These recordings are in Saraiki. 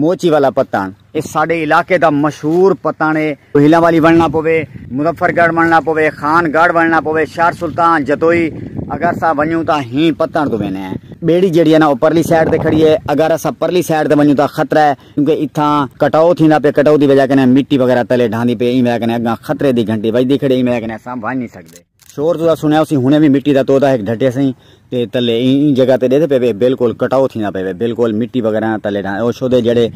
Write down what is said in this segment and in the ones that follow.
موچی والا پتݨ اے ساݙے علاقے دا مشہور پتݨ اے۔ ہیلاں والی ونڑݨا پووے، مظفر گڑھ ونڑݨا پووے، خان گڑھ ونڑݨا پووے، شہر سلطان، جتوئی اگر اساں ونڄوں تاں ہیں پتݨ توں ویندے ہیں۔ ٻیڑی جیڑھی اے نا او پرلی سائیڈ تے کھڑی اے، اگر اساں پرلی سائیڈ تے ونڄوں تاں خطرہ اے کیونکہ اتھاں کٹاؤ تھیندا پئے، کٹاؤ دی وجہ کنیں مٹی وغیرہ تلے ڈھاندی پئے ایں وجہ کنیں اڳاں خطرے دی گھنٹی وڄدی کھڑی ایں وجہ کنیں اساں ونڄ نی سڳدے۔ شور تساں سنیا ہوسی ہنے وی مٹی دا تودا ہک ڈھٹے سئیں تے تلے ایں جگہ تے ڈیدھے پے بالکل کٹاؤ تھیندا پے بالکل مٹی وغیرہ نہ تلے ڈھا او شودے جڑے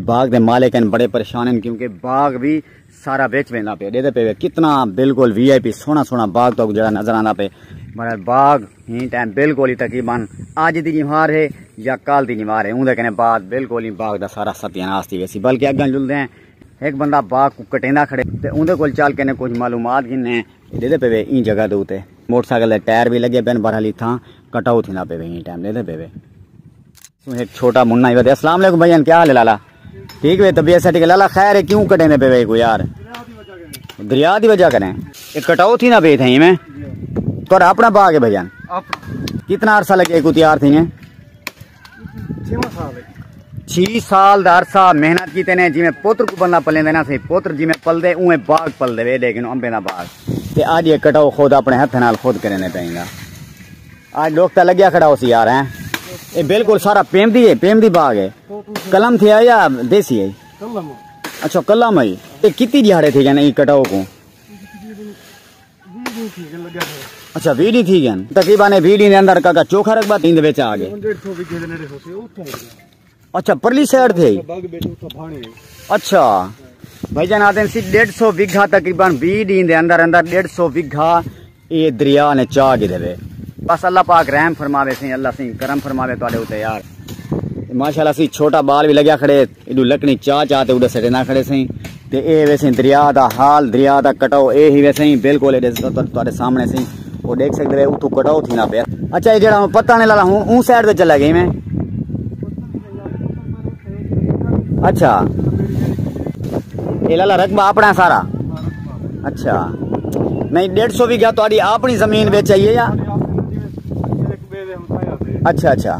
باغ دے مالک ہیں بڑے پریشان ہیں کیونکہ باغ وی سارا وچ ویندا پے ڈیدھے پے کتنا بالکل وی آئی پی سونا سونا باغ تو جڑا نظر آندا پے مگر باغ ہی ٹائم بالکل ہی تقریبا اج دی نیوار ہے یا کال دی نیوار ہے اون دے کنے بعد بالکل ہی باغ دا سارا ستیہ ناس تھی ویسی بلکہ اگاں جلدے ہیں ایک بندہ باغ کو کٹیندا کھڑے تے اون دے کول چل کنے کچھ معلومات گھنے ݙیندے پئے وے ایں جگہ دے اتے موٹر سائیکل دے ٹائر وی لڳے پئن بہرحال اتھاں کٹ آؤ تھیندا پئے وے ایں ٹائم ݙیندے پئے وے سوں ہک چھوٹا منا ہی ودے السلام علیکم بھائیان کیا حال ہے لالا ٹھیک وے طبیعت سٹی لالا خیر ہے کیوں کٹیندے پئے وے کو یار دریا دی وجہ کریں اے کٹاؤ تھیندا پئے تھیں میں تہاڈا اپنا باغ ہے بھائیان کتنا عرصہ لگے کو تیار تھیں چھی سال دا عرصہ محنت کیتے نے جویں پوتر کو بندہ پلیندے نا سی پوتر جویں پلدے اویں باغ پلدے وے دے کنو امبے دا باغ تے اج یہ کٹاؤ خود اپنے ہتھ نال خود کرینے پیندا اج لوک تا لگیا کھڑا ہوسی یار ہیں اے بالکل سارا پیم دی ہے پیم دی باغ ہے کلم تھیا یا دیسی ہے اچھا کلم ہے اے کتی دیہاڑے تھے گئے نا اے کٹاؤ کو اچھا وی ڈی تھی گئے تقریبا نے وی ڈی نے اندر کا کا چوکھا رکھ بات اند وچ آ گئے اچھا پرلی سائیڈ تھے اچھا بھائی جان آتے ہیں سی ڈیڑھ سو وگھا تقریبا وی ڈی دے اندر اندر ڈیڑھ سو وگھا اے دریا نے چاہ گئے دے بس اللہ پاک رحم فرماوے سی اللہ سی کرم فرماوے تو آلے ہوتے یار ماشاءاللہ سی چھوٹا بال بھی لگیا کھڑے ایڈو لکڑیں چا چا تے اڈا سٹے نہ کھڑے سیں تے اے ویسیں دریا دا حال دریا دا کٹاؤ اے ہی ویسیں بالکل ایڈے تواڈے سامنے سیں او دیکھ سکدے وے اتھوں کٹاؤ تھی نہ پیا اچھا اے جڑا پتہ نہیں لالا ہوں اون سائیڈ تے چلا گئی میں اچھا اے لالا رقبہ اپنا سارا اچھا نہیں ڈیڑھ سو بھی گیا تو آڑی اپنی زمین بیچ آئیے یا اچھا اچھا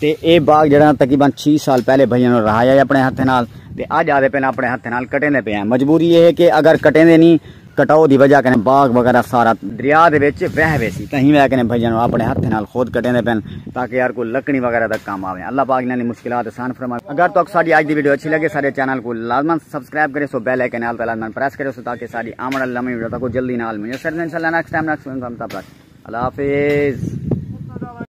تے اے باغ جیڑھا تقریبا چھی سال پہلے بھئیاں نال رہایا ہے اپنے ہتھیں نال تے اج آدھے پن اپنے ہتھیں نال کٹیندے پے ہیں مجبوری اے ہے کہ اگر کٹیندے نی کٹاؤ دی وجہ کنے باغ وغیرہ سارا دریا دے وچ وہہ ویسی تہیں وجہ کنے بھئیاں نال اپنے ہتھیں نال خود کٹیندے پن تاکہ یار کوئی لکڑی وغیرہ دا کم آویں اللہ پاک انہاں دی مشکلات آسان فرماویں اگر تک ساڈی اج دی ویڈیو اچھی لگے سارے چینل کو لازما سبسکرائب کرے سو بیل آئیکن نال تے لازما پریس کرے سو تاکہ ساڈی آمن والی لمبی ویڈیو تک جلدی نال میسر انشاءاللہ نیکسٹ ٹائم نیکسٹ ویڈیو تک اللہ حافظ